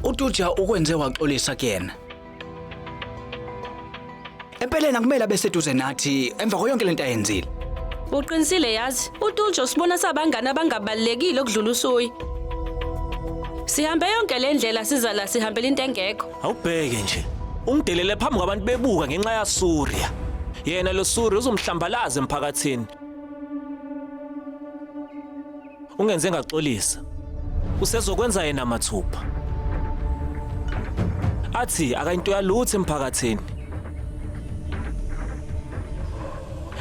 utuja ukwenze waxolisa kuyena empeleni akumele abe seduze nathi emva koyonke lento ayenzile uqinisile yazi utuljo sibona sabangani abangabalulekile okudlula usuyi sihambe yonke le ndlela siza la sihambela into engekho Awubheke nje. Ungidelele phambi kwabantu bebuka ngenxa ya Surya. Yena lo Surya uzomhlambalaza emphakathini. Ungenze ngaxolisa. Usezokwenza yena mathupha. Athi akayinto yalutho emphakathini.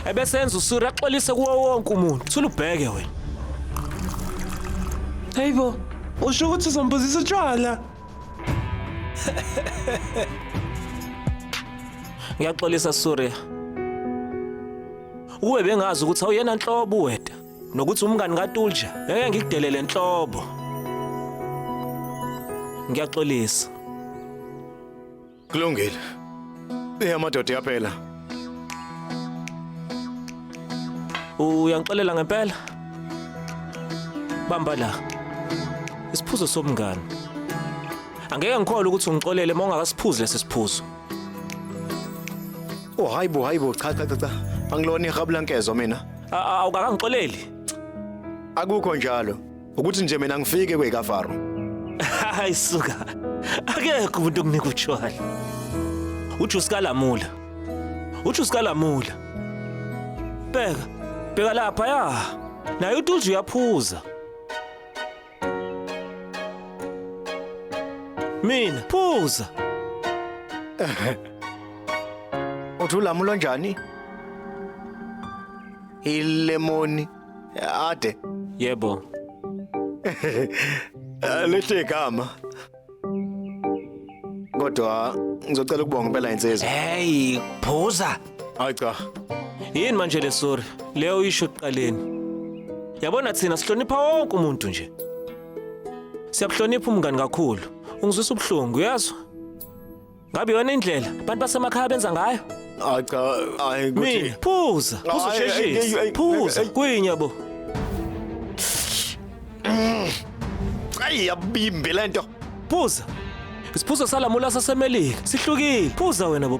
Ebesenza uSurya axolise kuwo wonke umuntu. Thula ubheke wena. Hayibo, usho ukuthi uzombuzisa utshwala. Ngiyaxolisa Surya. Uwe bengazi ukuthi awuyena nhlobo weta nokuthi umngani kaTulja ngeke ngikudelele nhlobo. Ngiyaxolisa. Kulungile. Eyamadoda yaphela. Uyangixolela ngempela? Bamba la. Isiphuzo somngani. Angeke ngikholwe ukuthi ungixolele uma ungakasiphuzi lesi siphuzo. Oh hayibo hayibo cha cha cha cha. Angilona ihabula nkezo mina. A- a- Awukakangixoleli. Akukho njalo. ukuthi nje mina ngifike kweyikafaro hayi suka akekho umuntu okunika utshwala uthi usikalamula uthi usikalamula bheka bheka lapha ya naye utulji uyaphuza mina phuza uthi ulamula onjani ilemoni Ade. Yebo. Lihle igama. Kodwa ngizocela ukubonga impela insizwa. Hey, phuza. Hayi cha. Yini manje le sorry? Leyo uyisho kuqaleni. Yabona thina sihlonipha wonke umuntu nje. Siyabuhlonipha umngani kakhulu. Ungizwisa ubuhlungu, uyazwa? Ngabe yona indlela abantu basemakhaya benza ngayo? Hayi cha, hayi Mina kuthi phuza, phuza Ay, ay, ay, usheshise. ay, Phuza, ay. kwinya bo. ayi yabimbi lento. Phuza. Isiphuzo salamula saseMelika sihlukile. Phuza wena bo.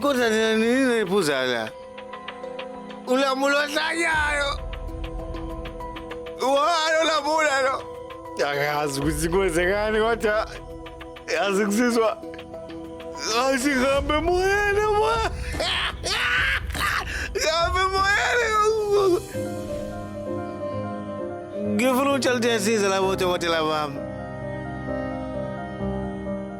Kodwa nina nini niphuza la? Ulamula ohlanyayo. Walo lamula lo. Akazi ukuthi kwenzekani kodwa yazi kusizwa asihambe moyeni mo. Hambe moyeni. Ngifuna utshela ukuthi yasiza labo dokotela bami.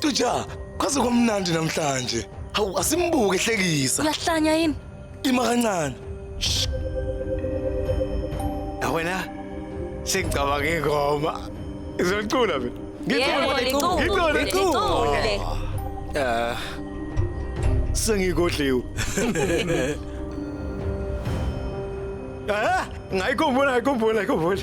Tuja, kwaze kwamnandi namhlanje. Hawu asimbuke hlekisa. Uyahlanya yini? Ima kancane. Wena sengicabanga ingoma. Izocula mina. Yebo, licule, Ngicule, licule. Eh. Sengigodliwe. Ah, ngayikhumbula, ngayikhumbula, ngayikhumbula.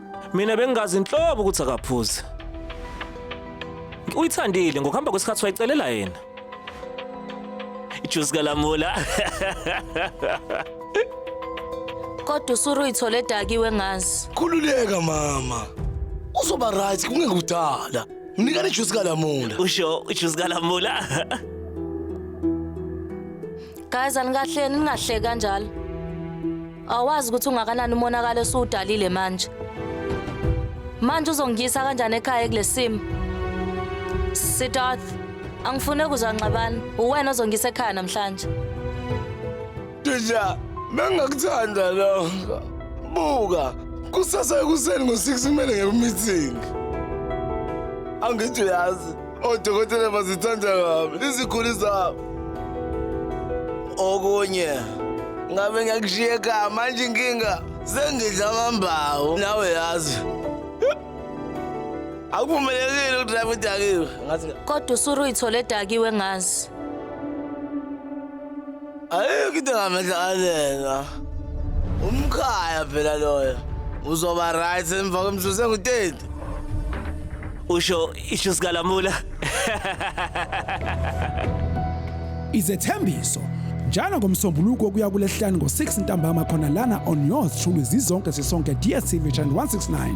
Mina bengingazi nhlobo ukuthi akaphuzi. Uyithandile ngokuhamba kwesikhathi wayicelela yena. Ijuice kalamula. Kodwa usuru uyithole edakiwe ngazi. Khululeka mama. Uzoba right kungeke udala. Mnikane ijuice kalamula. Usho ijuice kalamula. Guys anikahleni ningahleki kanjalo. Awazi ukuthi ungakanani umonakalo esiwudalile manje. Manje uzongiyisa kanjani ekhaya kulesimo? Sidarth, angifune kuzwa nxabana. Uwena ozongiyisa ekhaya namhlanje. Tija, bengakuthanda lokho. Buka, kusasa ekuseni ngo-6 kumele ngibe meeting. Angithi uyazi Odokotela bazithanda kabi iziguli zabo. Okunye ngabe ngiyakushiya ekhaya manje inkinga sengidla amambawu nawe yazi. Akuvumelekile ukudrive udakiwe. Ngathi Kodwa uSuru ithole edakiwe ngazi. ayikho into engamehlakalelwa umkhaya phela loyo uzoba right emva kwemzuzu engutenti usho isho sikalamula izethembiso njalo ngomsombuluko kuya kulehlani ngo-6 ntambama khona lana on yours truly zizonke sisonke dstv channel 169